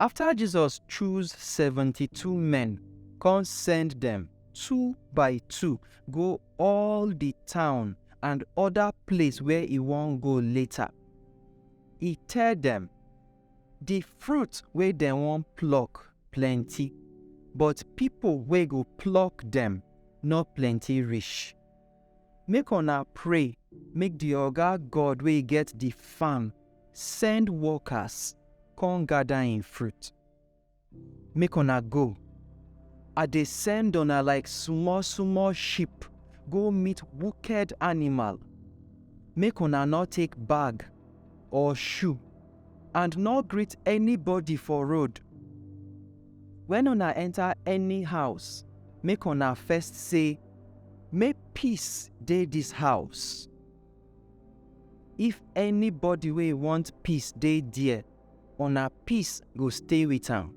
Afta Jesus choose seventy-two men kon send dem two by two go all di town and oda place where e won go later, e tell dem, Di fruit wey dem won pluck plenty, but pipo wey go pluck dem nor plenty rish. Make una pray make di Oga God wey get di farm Send workers come gather im fruit. Make una go. I dey send una like small small sheep go meet wicked animal. Make una no take bag or shoe and no greet anybody for road. When una enter any house, make una first say, Make peace dey this house. If anybody wey want peace dey there, una peace go stay with am,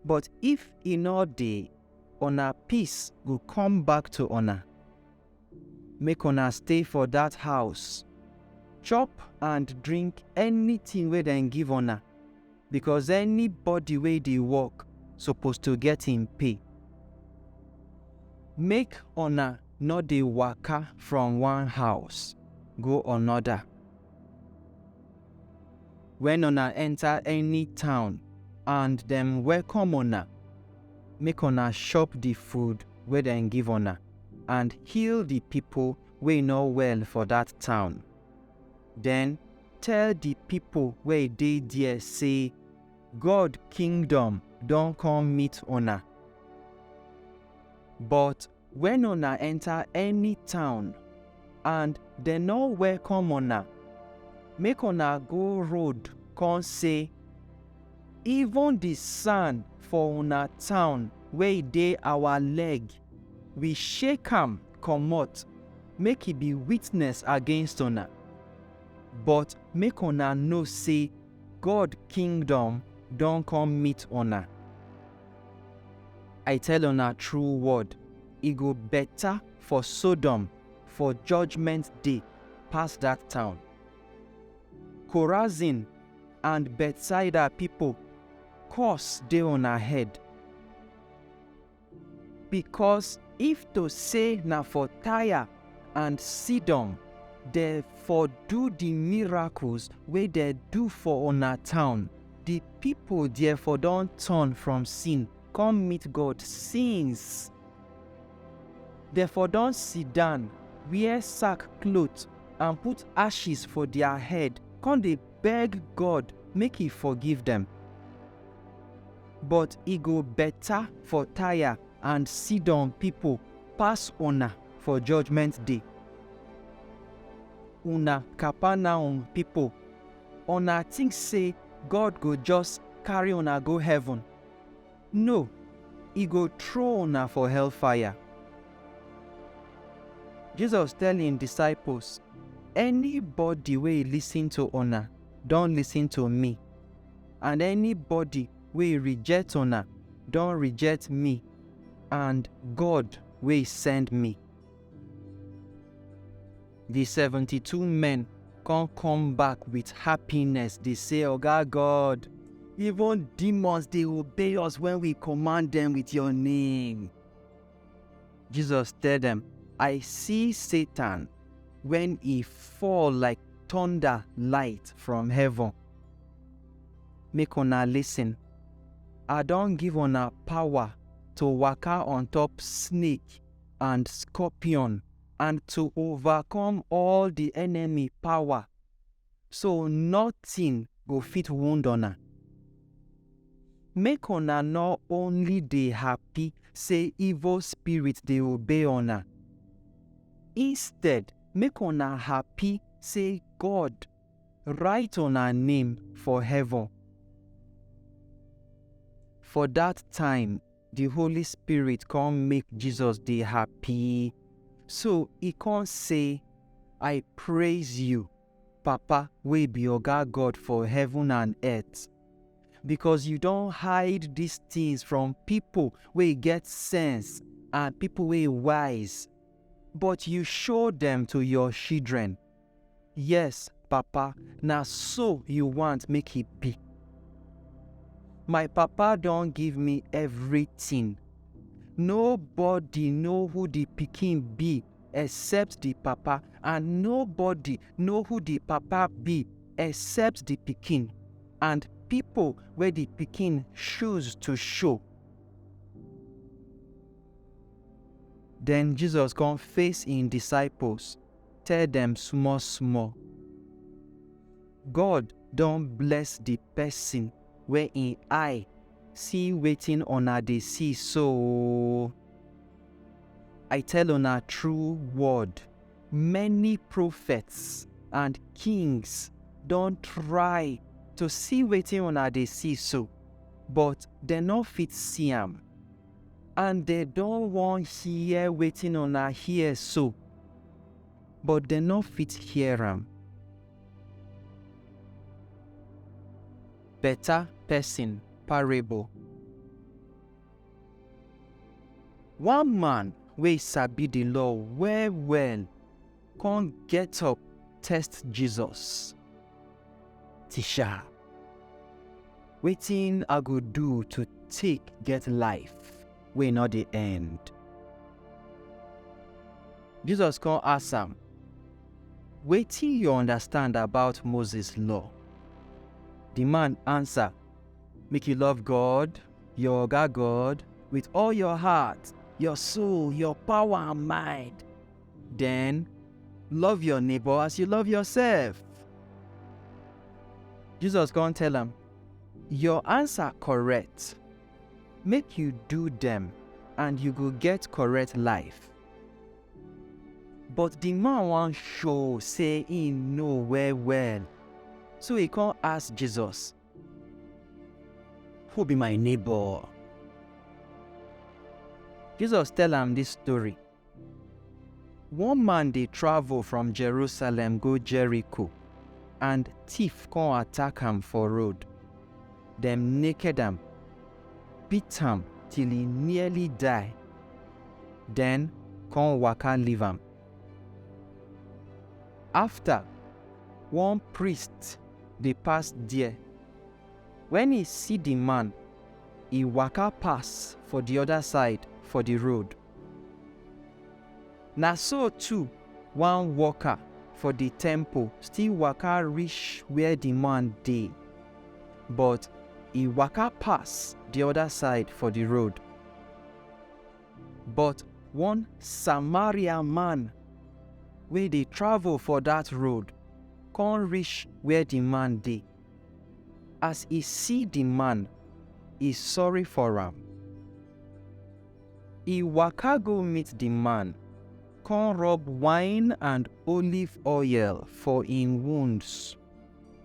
but if e no dey, una peace go come back to una. Make una stay for dat house, chop and drink anything wey dem give una. because anybody wey dey work suppose to get im pay. Make una no dey waka from one house go another. When una enter any town and dem welcome una, make una chop the food wey dem give una and heal the people wey no well for that town. Then Tell di pipo wey dey there sey, God kingdom don come meet una. But wen una enta any town and dem no welcome una, make una go road con sey, Even di sand for una town wey dey our leg, we shake am comot make e be witness against una. But make una know sey God kingdom don come meet una. I tell una true word, e go beta for Sodom for judgment day pass dat town. Korazin and Bethsaida pipo, curse dey una head! Because if to say na for Tyre and Sidon dem for do the miracles wey dem do for una town, the people there for don turn from sin come meet God since. Dem for don sit down, wear sack cloth and put ashes for their head, come dey beg God make he forgive dem. But e go beta for Taya and Sidon pipo pass una for Judgment Day. Una Kapernaum pipo, una tink sey God go just carry una go heaven? No, e go trow una for hellfire. Jesus tell im disciples, Anybody wey lisin to una, don lisin to mi. and anybody wey reject una don reject me and God wey send me. The 72 men come come back with happiness dey say, Oga God, even demons dey obey us when we command them with your name. Jesus tell dem, I see Satan when he fall like thunder light from heaven. Make una listen. I don give una power to waka on top snake and scorpion and to overcome all the enemy power so notin go fit wound una. Make una nor only dey happy sey evil spirit dey obey una, instead make una happy sey God write una name for heaven. For dat time. the Holy Spirit come make Jesus dey happy. So he come say, I praise you, Papa wey be Oga God for heaven and earth, because you don hide these things from people wey get sense and people wey wise, but you show them to your children. Yes, Papa, na so you want make e be. My Papa don give me everything. Nobody know who the pikin be except the Papa and nobody know who the Papa be except the pikin and people wey the pikin choose to show. Then Jesus come face im disciples. tell dem small small. God don bless the person wey im eye see wetin una dey see so oo. I tell una true word, many prophets and kings don try to see wetin una dey see so, but dem no fit see am. and dem don wan hear wetin una hear so, but dem no fit hear am. Beta pesin parable. One man wey sabi di law well-well kon get up test Jesus, Tisha. Wetin I go do to take get life wey no dey end? Jesus come ask am, Wetin you understand about Moses law? The man answer, Make you love God, your oga God, with all your heart, your soul, your power and mind. Then, love your neighbor as you love yourself. Jesus come tell am, Your answer correct. Make you do them, and you go get correct life. But the man wan show say he know well well. So he come ask Jesus, Who be my neighbor? Jesus tell am this story. One man dey travel from Jerusalem go Jericho, and thief come attack am for road. Dem naked am, beat am till e nearly die, then come waka leave am. After, one priest dey pass there. When e see the man, e waka pass for the other side for the road. Na so too, one worker for di temple still waka rish where di man dey, but e waka pass di oda side for di road. But one Samaria man wey dey travel for dat road kon rish where di man dey. As e si di man, e sorry for am. E waka go meet di man, kon rub wine and oliv oil for en wounds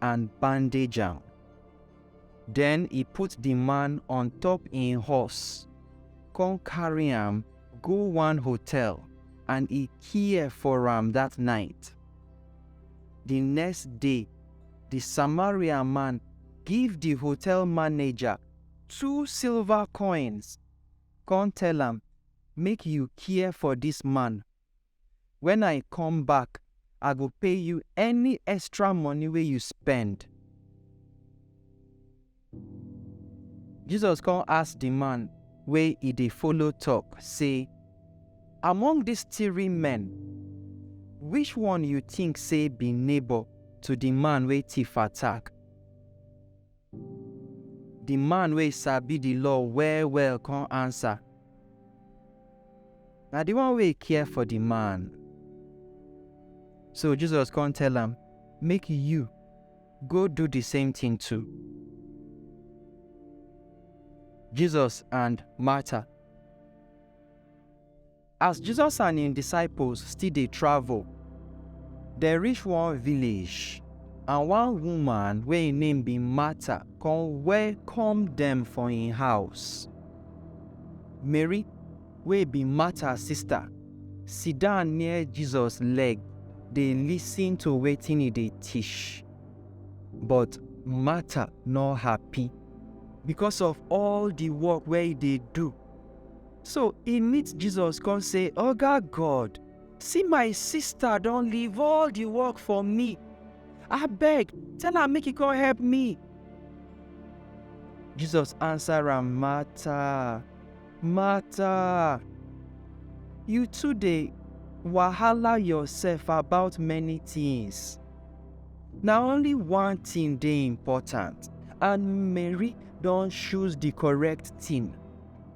and bandage am. Den e put di man on-top en hors kon karry am go one hotel and e kia for am dat nite. Di next day, di Samaria man give di hotel manager two silver koins kon tell am, Make yu care for dis man. Wen I kom back, I go pay yu any extra money wey yu spend. Jesus kon ask di man wey e dey follow tok sey, Among dis tiri men, wish one yu tink sey bi neighbor to di man wey tif attack? Di man wey sabi di law well-well kon ansa, Na di one wey care for di man. So Jesus kon tell am, Make yu go do di same tin too. Jesus and Martha. As Jesus and im disciples still dey travel, dem reach one village, and one woman wey im name be Martha come welcome dem for im house. Mary, wey be Martha sister, sit down near Jesus leg dey listen to wetin e dey teach. But Martha no happy because of all the work wey e dey do. So e meet Jesus come say, Oga God, see my sister don leave all the work for me. Abeg, tell am make e come help me. Jesus answer am, Martha, Martha, you too dey wahala yourself about many things. Na only one thing dey important and Mary don choose the correct thing.